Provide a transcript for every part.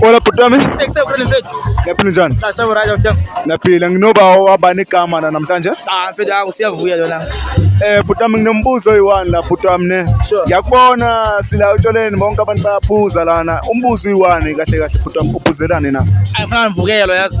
Hola bhuti wami. Ngiyaphila njani? Ngiyaphila nginoba wabani igama la namhlanje? Ah mfethu hawu siyavuya lona. Eh bhuti wami nginombuzo oyi-one la bhuti wami ne. Ngiyakubona sila utshwaleni bonke abantu bayaphuza lana. Umbuzo uyi-one kahle kahle bhuti wami uphuzelani na? Ayifana nivukelo yazi.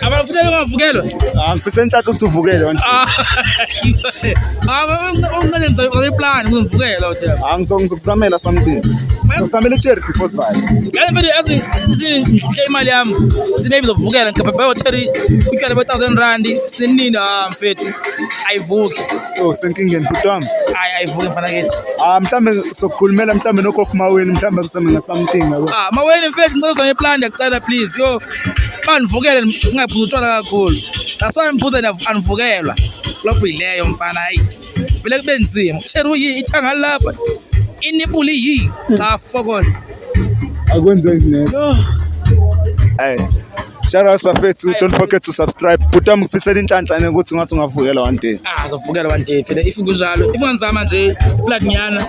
abafuna ungavukelwa ah, ngifisa ntatha ukuthi uvukele ah, ah, omncane ngizayiplan ngizomvukela ngizokuzamela something ngizokuzamela icherry before sivale ngale mfethu yazi ngihle imali yami sinebi ngizovukela ngigabhabhe ocherry utshwala be-thousand rand sinini ha mfethu ayivuki o oh, senkingeni bhuti wami hayi ayivuki mfana kethi ah mhlawumbe sokukhulumela mhlawumbe nokhokho maweni mhlawumbe kusemenga something yabo ah maweni mfethu ngicela uzame iplan yakucela please yo bandivukele ndingaphuza utshwala kakhulu that's why ndiphuza andivukelwa lobho yileyo mfana hayi vele kube nzima utsheru yi ithanga lapha inipuli yi cha fokona akwenzeki next hey Shout out bafethu, don't forget to subscribe. Bhutam ngifisela inhlanhla ukuthi ngathi ungavukela one day. Ah, uzovukela one day. Phela if kunjalo, if ungenzama nje, plug nyana.